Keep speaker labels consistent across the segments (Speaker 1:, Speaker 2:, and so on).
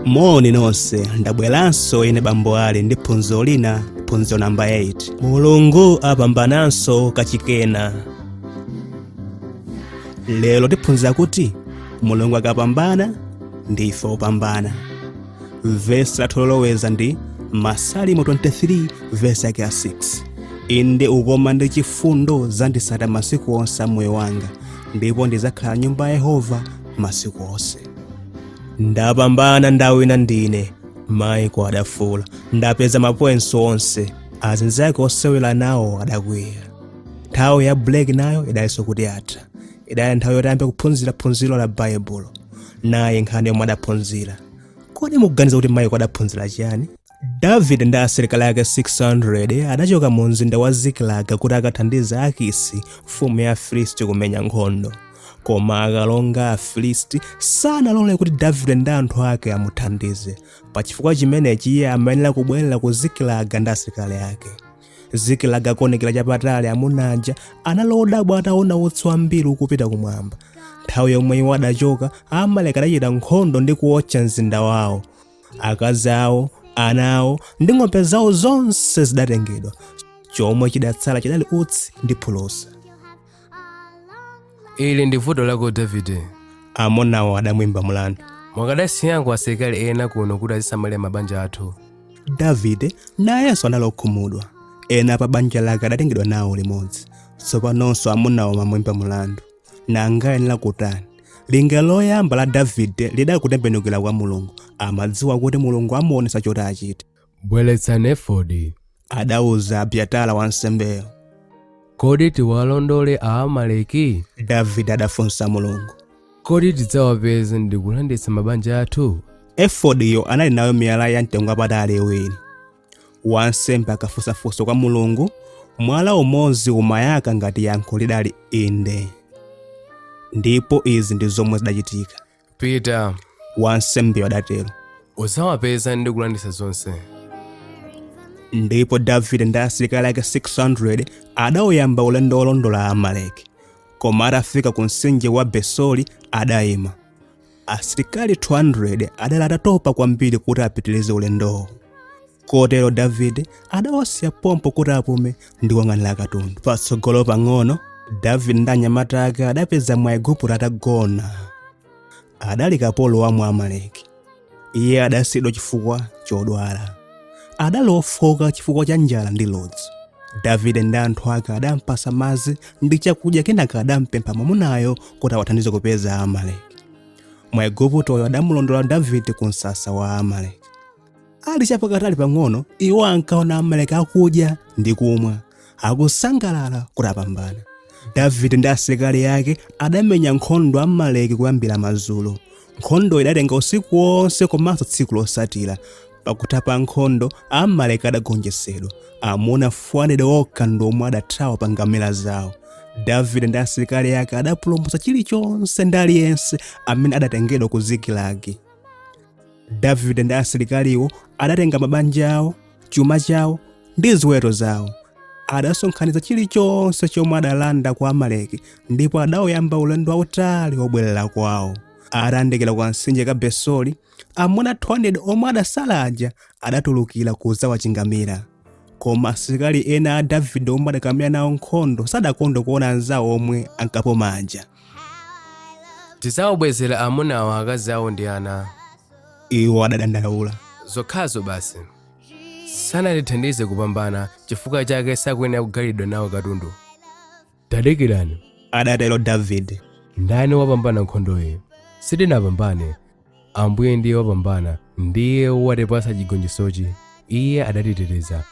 Speaker 1: moni nonse ndabweranso ine bambo ali ndi phunziro lina phunziro namba 8 mulungu apambananso kachikenanso lero tiphunzira kuti mulungu akapambana ndife opambana vesi lathu loloweza ndi masalimo 23 vesi yake ya 6 inde ukoma ndi chifundo zidzandisata masiku onse a moyo wanga ndipo ndizakhala m'nyumba ya yehova masiku onse ndapambana ndawina ndine maiko adafuula ndapeza mapointsi onse azinzake osewera nawo adakwiya nthawi ya break nayo idali itangotha idali nthawi yoti ayambe kuphunzira phunziro la baibulo nayi nkhani yomwe adaphunzira kodi mukuganiza kuti maiko adaphunzira chiyani davide ndi asilikali ake 600 adachoka mu mzinda wa zikilaga kuti akathandize akisi mfumu ya afilisti kumenya nkhondo koma akalonga a afilisti sanalole kuti davide ndi anthu ake amuthandize pachifukwa chimenechi iye amayenera kubwerera ku zikilaga ndi asilikali ake zikilaga akuonekera chapatali amuna aja anali odabwa ataona utsi wambiri ukupita kumwamba nthawi yomwe iwo adachoka amaleki adachita nkhondo ndi kuotcha mzinda wawo akazi awo ana awo ndi ng'ombe zawo zonse zidatengedwa chomwe chidatsala chidali utsi ndi phulusa
Speaker 2: ili ndi vuto lako davide
Speaker 1: amunawo adamwimba mlandu
Speaker 2: mukadasiyako asilikali ena kuno kuti azisamalira mabanja athu davide
Speaker 1: nayenso anali okhumudwa ena pa banja lake adatengedwa nawo limodzi tsopanonso amunawo amamwimba mlandu nanga ayenera kutani lingaliro loyamba la davide lidali kutembenukira kwa mulungu amadziwa kuti mulungu amuonesa choti achite
Speaker 2: bweretsani efodi
Speaker 1: adauza abyatara wansembeyo
Speaker 2: kodi tiwalondole aamaleki davide adafunsa
Speaker 1: mulungu kodi
Speaker 2: tidzawapeza ndi kulanditsa mabanja athu
Speaker 1: efodiyo anali nayo miyala ya mtengo wapatali iwiri wansembe akafunsa funso kwa mulungu mwala umodzi umayaka ngati yankho lidali inde ndipo izi ndi zomwe zidachitika pita
Speaker 2: wansembeyo
Speaker 1: adatero udzawapeza
Speaker 2: ndi kulanditsa zonse ndipo
Speaker 1: davide ndi asilikali ake 600 adauyamba ulendo wolondola amaleki koma atafika ku mtsinje wa besori adayima asilikali 200 adali atatopa kwambiri kuti apitirize ulendowo kotero davide adawasiya pompo kuti apume ndi kuyang'anira katundu patsogolo pang'ono davide ndi anyamata ake adapeza mwaigupto atagona adali kapolo wa mwamaleki iye adasiyidwa chifukwa chodwala adali ofooka chifukwa cha njala ndi ludzu davide ndi anthu ake adampatsa madzi ndi chakudya kenaka adampempha mwamunayo kuti awathandize kupeza amaleki mwaiguptoyo adamulondola davide ku msasa wa amaleki ali chapakatali pang'ono iwo ankaona amaleki akudya ndi kumwa akusangalala kuti apambana davide ndi asilikali ake adamenya nkhondo amaleki kuyambira madzulo nkhondo idatenga usiku wonse komanso tsiku losatira pakutha pa nkhondo amaleki adagonjetsedwa amuna 400 okha ndi omwe adathawa pa ngamira zawo davide ndi asilikali ake adapulumutsa chilichonse ndi aliyense amene adatengedwa ku zikilagi davide ndi asilikaliwo adatenga mabanja awo chuma chawo ndi ziweto zawo adasonkhanitsa chilichonse chomwe adalanda kwa amaleki ndipo adawuyamba ulendo wautali wobwerera kwawo atayandikira kamtsinje ka besori amuna 200 omwe adatsala aja adatulukira kudzawachingamira koma asilikali ena a davide omwe adakamenya nawo nkhondo sadakondwe kuona anzawo omwe ankapuma aja
Speaker 2: tidzawabwezera amunawa akazi awo ndi ana iwo
Speaker 1: adadandaula zokhazo
Speaker 2: basi sanatithandize kupambana chifukwa chake sakuyenera kugawiridwa nawo katundu tadikirani adatero
Speaker 1: davide ndani wapambana
Speaker 2: nkhondoyi sitinapambane ambuye ndiye wapambana ndiye watipatsa chigonjetsochi iye adatiteteza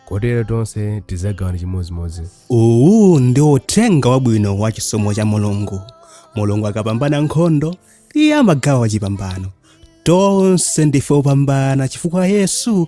Speaker 2: kotero tonse tidzagawana chimodzimodzi uwu ndi
Speaker 1: uthenga wabwino wa chisomo cha mulungu mulungu akapambana nkhondo iye amagawa chipambano tonse ndife opambana chifukwa yesu